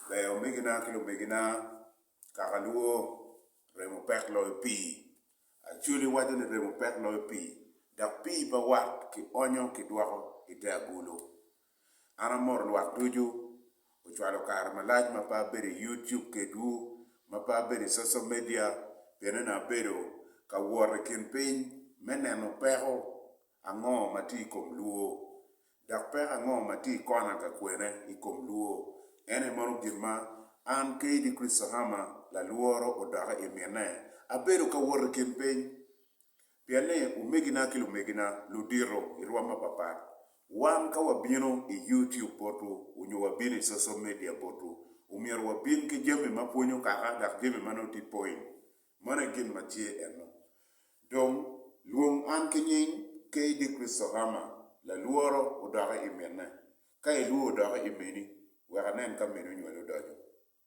Ber omegina ki lumegina, kaka lwo, remo pek loyo pii. Acholi waco ni remo pek loyo pii, dok pii pa wat kionyo kidwoko i te agulu. An amoro lwak ducu ocwalo kare malac ma pe abedo i YouTube kedwu, ma pe abedo i social media pien eni abedo ka wot i kin piny me neno peko ango ma tye i kom lwor, dok peko ango ma tye i kona ka kwene i kom lwor. En aye mono gin ma an KD Christohama lalworo odoke i mine, abedo ka wot i kin piny Pien ni, omegina ki lumegina ludito i rwom mapapat, wan ka wabino i YouTube botwu nyo wabino i social media botwu, omyero wabin ki jami ma pwonyo kaka dok jami ma nongo tye point. Mano aye gin ma tye enno. Dong, lwong an ki nying KD Crystal Rama, lalworo odoki i minne. Ka ilwor odoki i mini, wek anen ka mini onywali odonyo.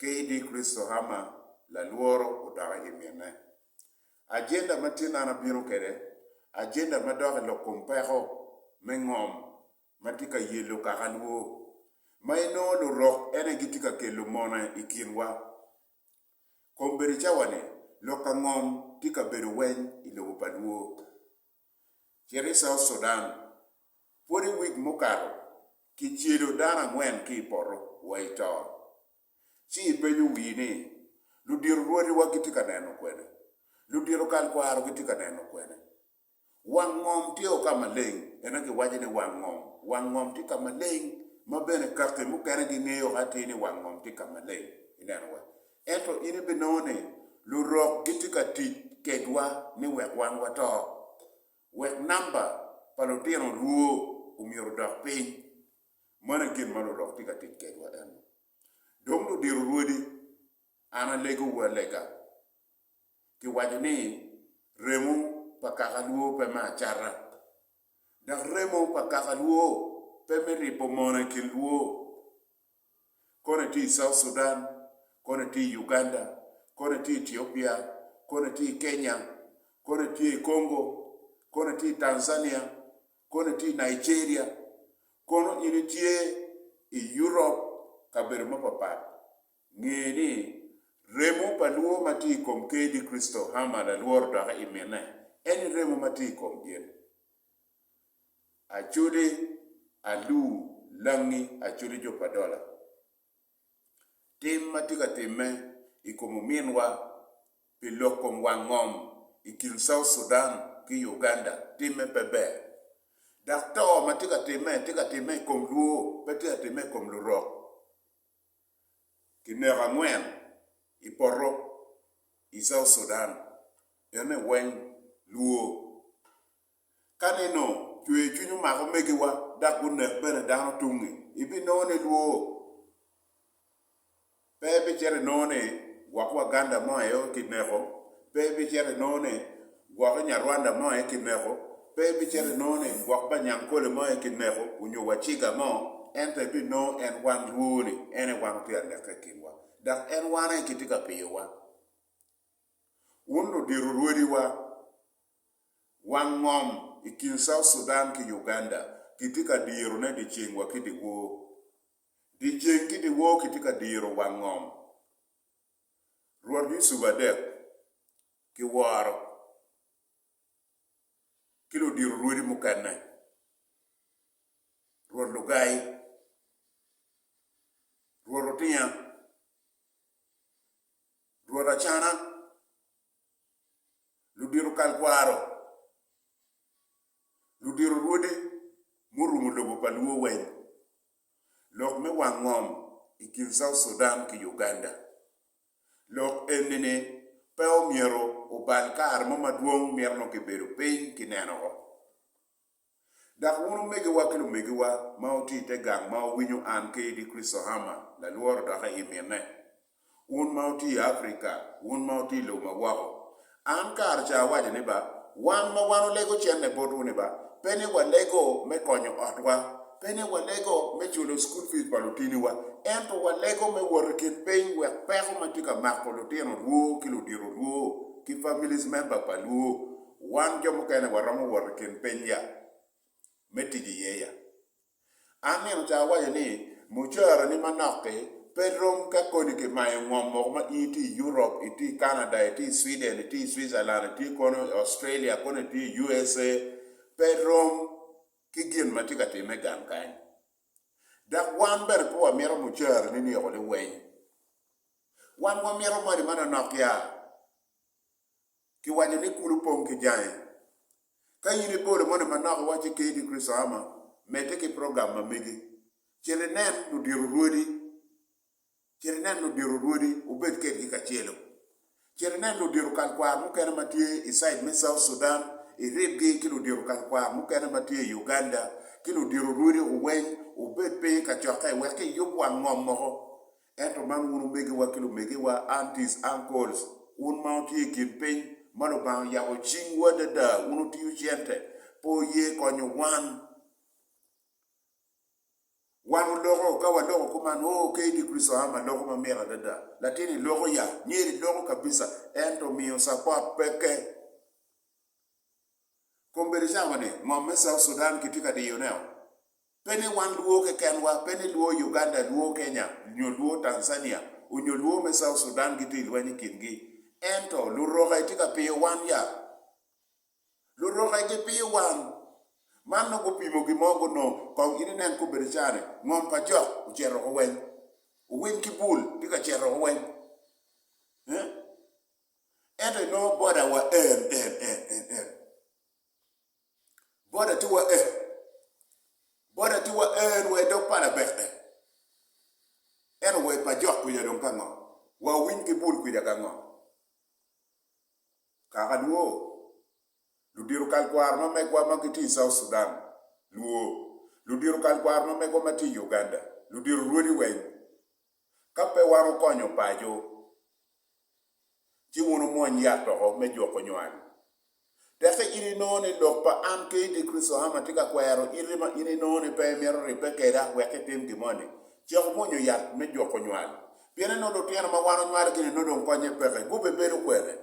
KD. Christohammer lalworo odokke i minne. Ajenda ma tye nano abino kwede, ajenda ma dok i lok kom peko me ngom ma tye ka yello kaka lwo, ma inongo lurok ene gitye ka kelo mone i kinwa. Kombedo cawa-ni, lok ka ngom tye ka bedo weny i lobo pa lwo. Cit i South Sudan, Pwod i wik mukato, kicelo dano angwen ki i poto wa i to. Ci ipenyo wii ni, 'Ludito rwodiwa gitye ka neno kwene? Ludito kalkwaro gitye ka neno kwene? Wang ngom tye o ka maleng, ento giwaco ni wang ngom, wang ngom tye ka maleng, ma bene kaki mukene gingeyo ka atir ni wang ngom tye ka maleng. Ineno wa? Ento in ibinongo ni Lurok gitye ka tic kedwa ni wek wan wato, wek namba pa lutino lwo omyero odok piny. Mano aye gin ma Lurok tye ka tic kedwa eno. Dong ludiro rwodi, an alegowu alega, kiwaco ni, Remo pa kaka lwo pe me acata, dok remo pa kaka lwo pe me ribo mono i kin lwo. Koni tye i South Sudan, koni tye i Uganda, koni tye i Ethiopia, koni tye i Kenya, koni tye i Congo, koni tye i Tanzania, koni tye i Nigeria, kono in itye i Europe, kabedo mapapat, nge ni remo pa lwor ma tye i kom KD Crystal Hammer lalworo doki imine, en i remo ma tye i kom gin. acode alu langi acode jo pa dola. Tim ma tye ka timme i kom ominwa pi lok kom wang ngom i kin South Sudan ki Uganda timme pe ber. Dok to ma tye ka timme tye ka timme i kom luo pe tye ka timme i kom lurok. Kineko angwen i poto i South Sudan ene weng luo. Ka nino cwercwiny omako omegiwa dok gunek bene dano tungnge, ibinongo ni lwor pe, ibicito inongo ni gwok Waganda mo aye kineko, pe ibicito inongo ni gwok Inyarwanda mo aye kineko, pe ibicito inongo ni gwok Banyankole mo aye kineko onyo Waciga mo, ento ibinongo en wan lwor-ni en aye wan otye ka neke i kinwa, dok en wan aye kitye ka piyowa. Wun ludito rwodiwa, Wang ngom i kin South Sudan ki Uganda kitye ka dirone dyeceng wa ki dyewor. Dyeceng ki dyewor kitye ka diro wang ngom. Rwot Yusuf adek kiworo ki ludiro rwodi mukene, Rwot Lugai, Rwot Otinya, Rwot Acana, ludito kal kwaro, ludito rwode murumo lobo pa Luo weng, lok me wang ngom i kin South Sudan ki Uganda. Lok enini pe omyero obal kare mo madwong mito nongo kibedo piny kineno woko. Dok wun omegiwa ki lumegiwa ma wutye i te gang ma wawinyo an ki Eddie Chrisohama lalworo dokke i mine, wun ma wutye i Afrika, wun ma wutye i lobo ma woko, an kare ca awaco ni ba, wan ma wan olego cente botwu ni ba, pe ni walego me konyo otwa, pe ni walego me culo school fees pa lutiniwa, ento walego me wot i kin piny wek peko ma tye ka mako lutino lwo ki ludito lwo ki families member pa lwo, Wan jo mukene waromo wot i kin piny ya me tic i ye ya. An nino ca awaco ni mucara ni manok ki pe rom ka koni ki mayo ngom moko ma in itye i Europe, itye i Canada, itye i Sweden, itye i Switzerland, itye kono i Australia, kono itye i USA, pe rom ki gin ma tye ka timme gang kany. Dok wan bene pe wamito mucara ni ni oko liweny. Wan wamito moni manonok ya. Kiwaco ni kulu pong ki jange. Ka in ibolo moni manok iwaco ki ni Kricito ama, medde ki program ma megi. Cit inen ludito rwodi. Cit inen ludito rwodi, wubed kedgi kacelo. Cit inen ludito kalkwar mukene ma tye i side me South Sudan, iribgi ki ludito kalkwar mukene ma tye i Uganda, ki ludito rwodi weny, wubed piny i kacokke wek iyub wang ngom moko. Ento man wun omegiwa ki lumegiwa, aunties, uncles, wun ma wutye i kin piny, ma Lubanga oyabo cingwu adada, wun wutiyo cente, pe wuye konyo wan. Wan wuloko, ka waloko kuman, oh, ka Eddie Kristo Ham aloko ma mit adada. Latin iloko ya, myero iloko kabisa, ento miyo support peke. Kong bed cawa ni ngom me South Sudan kitye ka diyo neo. Pe ni wan luo kekenwa, pe ni luo Uganda, luo Kenya, nyo luo Tanzania, onyo luo me South Sudan gitye i lweny i kin gi. Ento luroka itye ka piyo wan ya? Luroka i gi piyo wan? Man nongo gupimo gin mo gunong. Kong in inen kong bed cawa ni ngom pa jok ocito woko weny. Owiny ki bul tye ka cito woko weny. Eeh. Ento inongo boda wa en, en, en, en, en. Boda ti wa en. Boda ti wa en wa idog pala bek en. Eno wa ipa jok kuja dong ka ngo. Wa uwiny ki bul kuja ka ngo. Kaka luo, ludiro kal kwaro ma megwa ma giti i South Sudan, luo, ludiro kal kwaro ma megwa ma ti i Uganda, ludiro rwodi weng, Ka pe wan okonyo paco, ci wun wumwony yat doko me juko nywal. Tekke in inongo ni lok pa an kadi Kricito ame tye ka kwero iti ma in inongo ni pe imito ribbe keda wek itim gin moni, cek wumwonyo yat me juko nywal. Piene nongo lutino ma wan onywalo gini nongo dong konye peke, gubibedo kwene?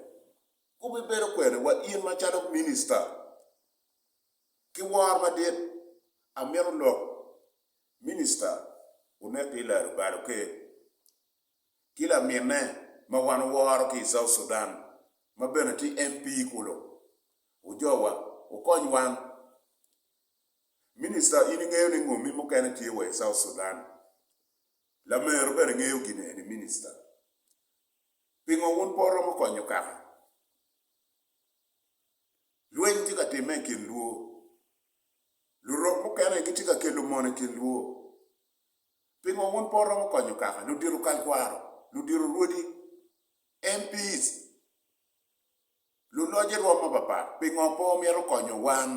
Gubibedo kwene? Wa in macalo minista, ki wor madit, amito lok Minista onek ki laro balo ker ki laminne ma wan oworo ki i South Sudan ma bene tye MP kulu. Ojowa, wukony wan. Minista in ingeyo ni ngomi mukene tye wa i South Sudan. Lamero bene ngeyo gin eni minista. Pingo wun pe wuromo konyo kaka lweny tye ka timme i kin luo? Lurok mukene gitye ka kelo mono i kin lwor. Pingo wun pe wuromo konyo kaka, ludito kalkwaro, ludito rwodi, MPs, luloc i rwom mapapat? Pingo pe wumito konyo wan?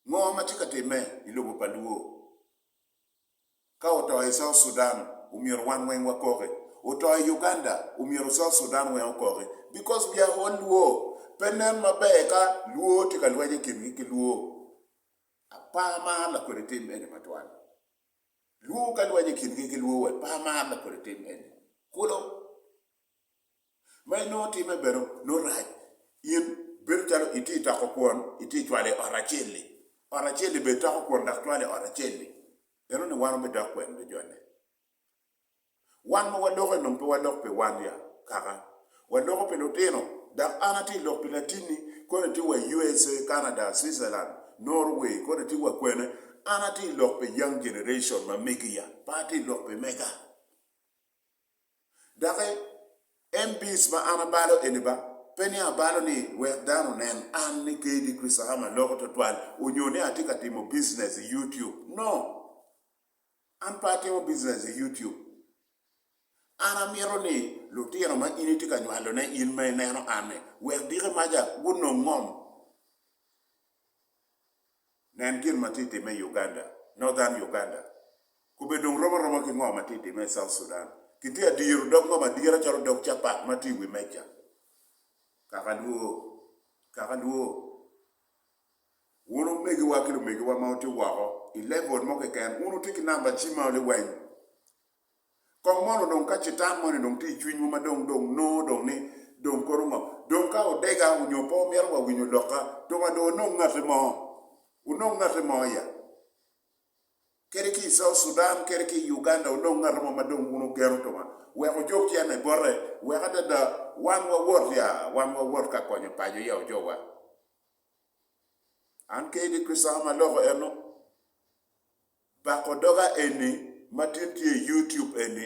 Ngo ma tye ka timme i lobo pa lwor? Ka oto i South Sudan omyero wan weng wakoki, oto i Uganda omyero South Sudan weng okoki because we are all Luo. Pe nen maber ka Luo tye ka lweny i kingi ki Luo. Apa mar lakodi tim eni matwal. Luo ka lweny i kingi ki Luo wek pa mar lakodi tim eni. Kulu. Ma inongo timme bene nongo rac, in bedo calo itye i toko kwon, itye cwalo i ot acel-li, ot acel-li bene itoko kwon dok cwalo i ot acel-li. Ineno ni wan wubidok kwene ki jone? Wan ma waloko-ni dong pe walok pi wan ya kaka, waloko pi lutino. Dok an atye ka lok pi latinni koni itye wa i USA, Canada, Switzerland, Norway, koni itye wa kwene, an atye ka lok pi young generation ma megi-ya, pe atye ka lok pi mega. Doki en bic ma an abalo eni ba, pe ni abalo ni wek dano onen an ni KD Chrisaham aloko twatwal onyo ni atye ka timo business i YouTube. No! An pe atimo business i YouTube. An amito ni lutino ma in itye ka nywalone in ma ineno an-ni, wek diki maca gunong ngom. Nen gin ma tye ka timme i Uganda, Northern Uganda, kobbe dong rom aroma ki ngo ma tye ka timme i South Sudan. Kitye ka diro dog ngo madira calo dog capat ma tye i wi meja. Kaka lwor, kaka lwor. Wun omegiwa ki lumegiwa ma wutye woko i level mo keken, wun wutye ki namba cim ma liweny. Kong mono dong ka citan moni dong tye i cwinywu ma dong dong nongo dong ni dong kono ngo? Dong ka odega onyo pe omito wa winyo lokka, tuk adong onong ngati mo? Onong ngati mo ya? Kadi ki i South Sudan kadi ki i Uganda onong ngati mo ma dong wun ogeno tunga wek ojok cene bote wek adada wan wa wot ya, wan wa wot ka konyo paco ya ojowa. An kadi ki sawa ma loko eno. Bako doga eni matin tye i YouTube eni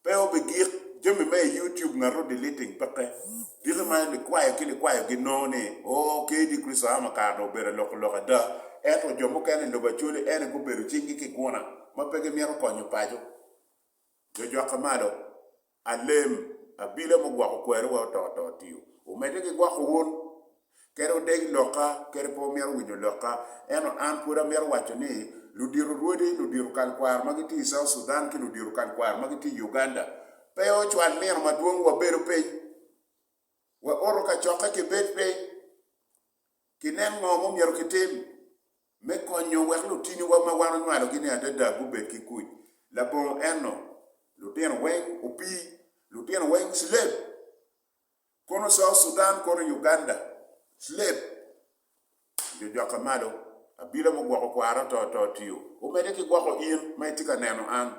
pe obigik jami me i YouTube ngat ro deleting peke diki ma likwayo ki likwayo gi nongo ni oo kdi Christo Ama kare dong obedo aloko lok ada ento jo mukene i lobo Acholi ene gubedo cing gi kiguna ma pe gimito konyo paco jo jwakke malo. Alem, abila mugwoko kweri wa oto to tio. Omedde ki gwoko un. Kadi odeg lokka, kadi pe omito winyo lokka, ento an pwod amito waco ni, ludito rwodi, ludito kal kwaro ma gitye i South Sudan ki ludito kal kwaro ma gitye i Uganda, pe ocwal nino madwong wabedo piny, wa oto kacokke kibed piny. Ginen ngo mumyero kitim me konyo wek lutiniwa ma wan onywalogi-ni adada gubed ki kuc? Labongo eno, lutino weng opii, lutino weng slave, kono South Sudan kono Uganda, slave, nyo jokke malo, abila mugwoko kwara to to tio, omede ki gwoko in ma itye ka neno an.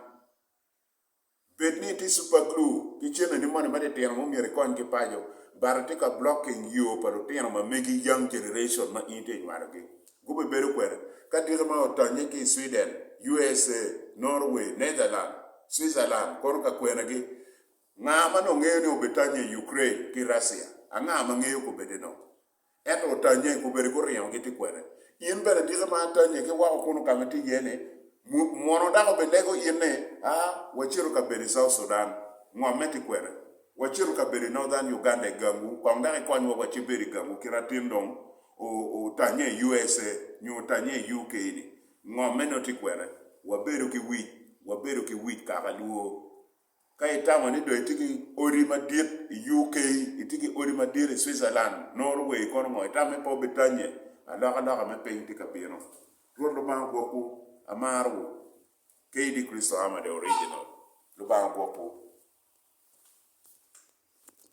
Bed ni itye Super Glue, ki cenneni moni matitino ma omyero ikony ki paco, bati tye ka blocking yoo pa lutino ma megi, young generation, ma in itye inywalogi. Gubibedo kwene ka diki ma otonye ki i Sweden, USA, Norway, Netherland, Switzerland kono ka kwenagi? Nga ma nongo ngeyo ni obitonnye i Ukraine ki Russia? Anga ma ngeyo kobedeno? Ento otanye, gubedo guringogi ti kwene. In bene diki ma atanye ki woko kunu ka ma itye iye ni, Mono dako bilego in ni, aa, wacito ka bedo i South Sudan, ngomme ti kwene? Wacito ka bedo i Northern Uganda i gangu, kong dok ikonywa wa ci bedo i gangu kit atin dong otanye i USA nyo otanye i UK ni, ngomme nyo ti kwene? Wabedo ki wic, wabedo ki wic kaka lwor. Ka itamo ni dong itye ki odi madit i UK, itye ki odi madit i Switzerland, Nor way i kono ngo? Itamo ni pe wubitanye? Alokaloka me piny tye ka bino. Rwot Lubanga ogwokwu. Amarowu. KD Kricito Ama the Original. Lubanga ogwokwu.